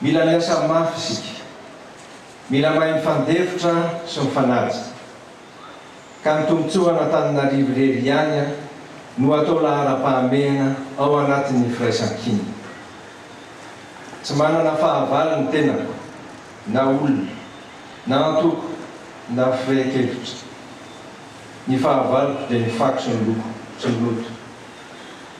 Mila miasa mafy isika. Mila mahay mifandefitra sy mifanaja. Ka ny tombotsoan'Antananarivo irery ihany no atao laharam-pahamehana ao anatin'ny firaisankina. Tsy manana fahavalo ny tenako, na olona, na antoko, na firehin-kevitra. Ny fahavaloko dia ny fako sy ny loko, tsy ny loto.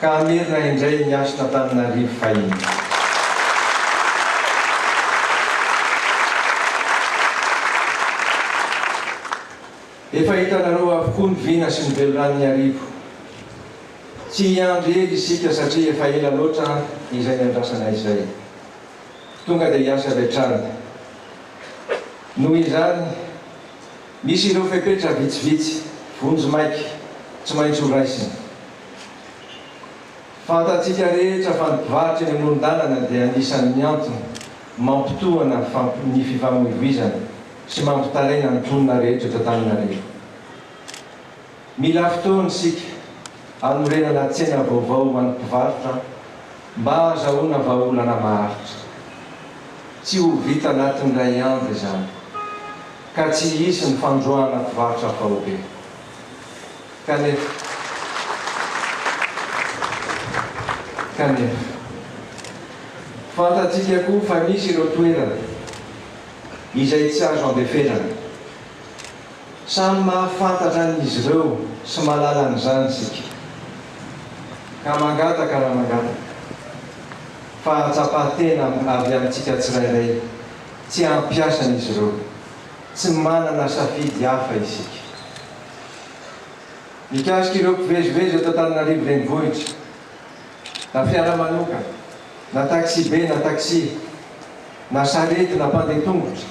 ka hamerina indray ny hasin'Antananarivo fahiny. Efa hitanareo avokoa ny vina sy ny veloranon'Iarivo. Tsy hiandry ela isika satria efa ela loatra izay niandrasana izay. Tonga dia hiasa avy hatrany. Noho izany, misy ireo fepetra vitsivitsy, vonjimaika, tsy maintsy horaisina. Fantatsika rehetra fa ny mpivarotra eny amoron-dalana dia anisan'ny antony mampitohana ny fifamoivoizana sy mampitaraina ny mponina rehetra eto Antananarivo. Mila fotoana isika hanorenana tsena vaovao ho an'ny mpivarotra mba hahazahoana vahaolana maharitra. Tsy ho vita anatin'ny iray andro izany ka tsy hisy ny fandroahana mpivarotra faobe. Kanefa. Kanefa. Fantatsika koa fa misy ireo toerana izay tsy azo andeferana. Samy mahafantatra an'izy ireo sy mahalala an'izany isika. Ka mangataka raha mangataka, fahatsapan-tena avy amintsika tsirairay, tsy hampiasa an'izy ireo. Tsy manana safidy hafa isika. mikasika ireo mpivezivezy eto Antananarivo Renivohitra, na fiara manokana, na taxi-be na taxi, na sarety na mpandeha tongotra,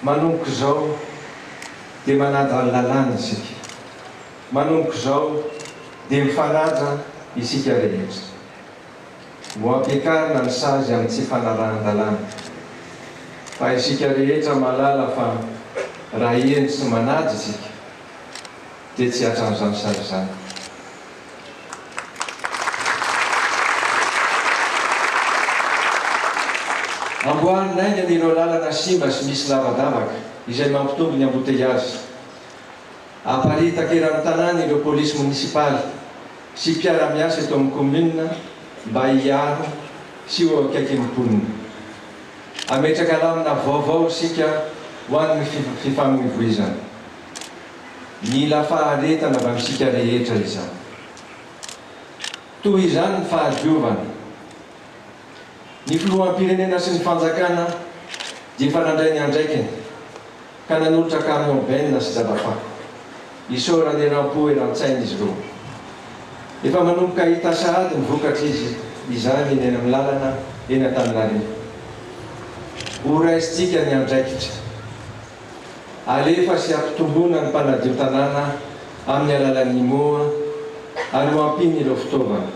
manomboka izao dia manadala lalàna isika, manomboka izao dia mifanaja isika rehetra. Ho ampiakarina ny sazy amin'ny tsy fanarahan-dalàna. Fa isika rehetra mahalala fa raha heno sy manady isika dia tsy hatran'izany sazy izany. Amboary naingana ireo lalana simba sy misy lavadavaka izay mampitombo ny amboteiazy. Aparitaky eran'ny tanàna ireo polisy monisipaly. sy mpiara-miasa eto amin'ny kaominina mba hiaro sy ho eo akaikin'ny mponina. Hametraka lamina vaovao isika ho an'ny fifamoivoizana. Mila faharetana avy amintsika rehetra izany. Toy izany ny fahadiovana. Ny filoham-pirenena sy ny fanjakana dia efa nandray ny andraikiny. ka nanolotra camion benina sy jabafaka isaorana eram-po eran-tsaina izy roa. Efa manomboka hita sahady ny vokatra izy izany eny amin'ny lalana eny Antananarivo. Ho raisintsika ny andraikitra. Alefa sy ampitomboina ny mpanadio tanàna amin'ny alalan'ny moa ary ho ampiany ireo fitaovana.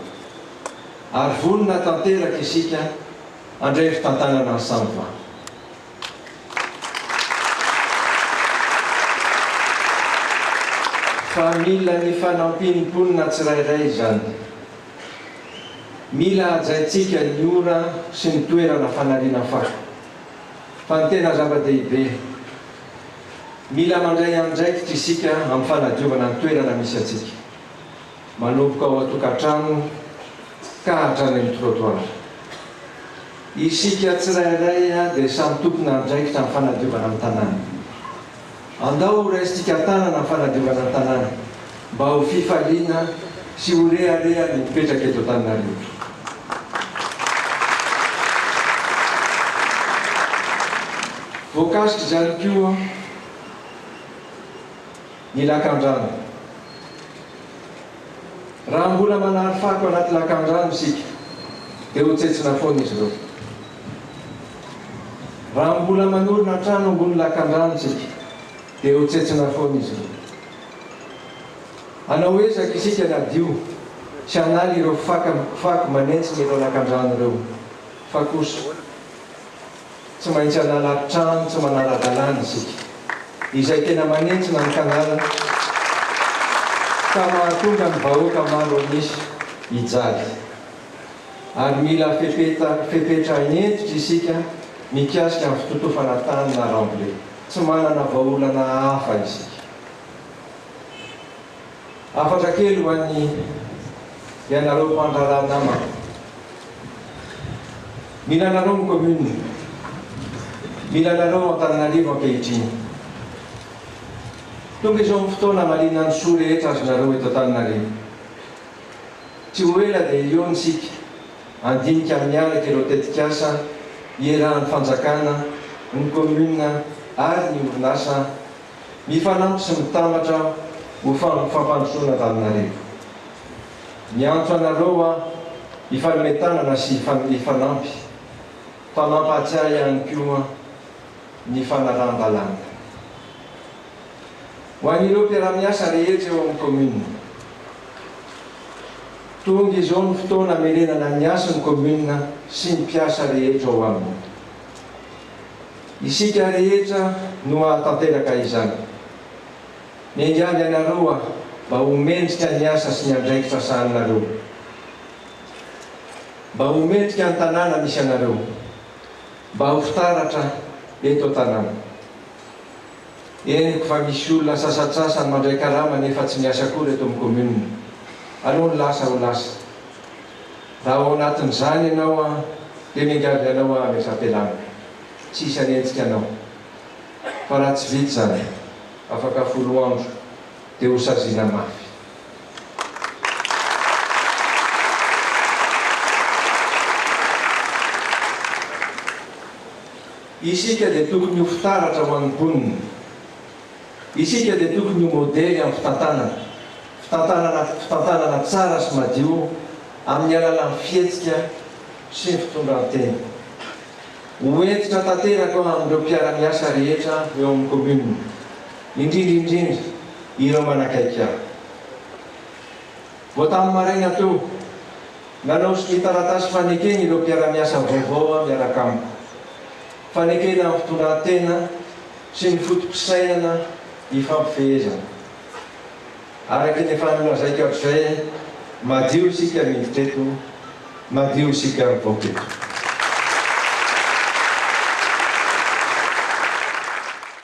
Ary vonona tanteraka isika handray fitantanana ny Samva. Fa mila ny fanampian'ny mponina tsirairay izany. Mila hajaintsika ny ora sy ny toerana fanariana fako. Fa ny tena zava-dehibe, mila mandray andraikitra isika amin'ny fanadiovana ny toerana misy antsika. manomboka ao an-tokantrano ka hatrany amin'ny trottoir. Isika tsirairay dia samy tompon'andraikitra amin'ny fanadiovana ny tanàna. Andao horaisintsika tanana ny fanadiovana ny tanàna mba ho fifaliana sy ho rehareha ny mipetraka eto Antananarivo. Voakasik'izany koa. ny lakandrano. Raha mbola manary fako anaty lakandrano isika dia ho tsentsina foana izy ireo. Raha mbola manorina trano ambony lakandrano isika dia ho tsentsina foana izy ireo. Hanao ezaka isika ny hadio sy hanala ireo fako manentsina ireo lakandrano ireo fa kosa tsy maintsy hanala trano tsy manara-dalàna isika, izay tena manentsina ny Canal ka mahatonga ny vahoaka maro an'isa hijady. Ary mila fepeta fepetra hentitra isika mikasika ny fitotofana tany na rambole. Tsy manana vahaolana hafa isika. Hafatra kely ho an'ny ianareo mpandraharaha namako. Mila anareo ny commune. Mila anareo Antananarivo ankehitriny. Tonga izao ny fotoana hamaliana ny soa rehetra azonareo eto Antananarivo. Tsy ho ela dia eo ny isika handinika amin'ny araka ireo tetikasa ierahan'ny fanjakana, ny commune ary ny orinasa. Mifanampy sy mitambatra ho fam fampandrosoana Antananarivo. Miantso anareo aho hifanome tanana sy hifan hifanampy fa mampahatsiahy ihany koa ny fanaraham-balana. Ho an'ireo mpiara-miasa rehetra eo amin'ny Commune. Tonga izao ny fotoana hamerenana ny hasin'ny Commune sy ny mpiasa rehetra ao aminy. Isika rehetra no hahatanteraka izany. Miangavy anareo aho mba ho mendrika ny asa sy ny andraikitra sahaninareo. Mba ho mendrika ny tanàna misy anareo. Mba ho fitaratra eto an-tanàna. Henoko fa misy olona sasantsasany mandray karama nefa tsy miasa akory eto amin'ny commune. Aleo ny lasa ho lasa. Raha ao anatin'izany ianao an, dia miangavy anao aho amim-pampialana. Tsy hisy hanenjika anao. Fa raha tsy vita izany, afaka folo andro, dia ho saziana mafy. Isika dia tokony ho fitaratra ho an'ny mponina. Isika dia tokony ho modely amin'ny fitantanana, fitantanana fitantanana tsara sy madio amin'ny alalan'ny fihetsika sy ny fitondran-tena. Ho hentitra tanteraka amin'ireo mpiara-miasa rehetra eo amin'ny Commune, indrindra indrindra ireo manakaiky ahy. Vao tamin'ny maraina teo, nanaosy ny taratasy fanekeny ireo mpiara-miasa vaovao miaraka amiko. Fanekena amin'ny fitondran-tena. sy ny foto-pisainana ifampifehezana. Araka ny efa nolazaiko hatrizay, madio isika miditra eto, madio isika mivoaka eto.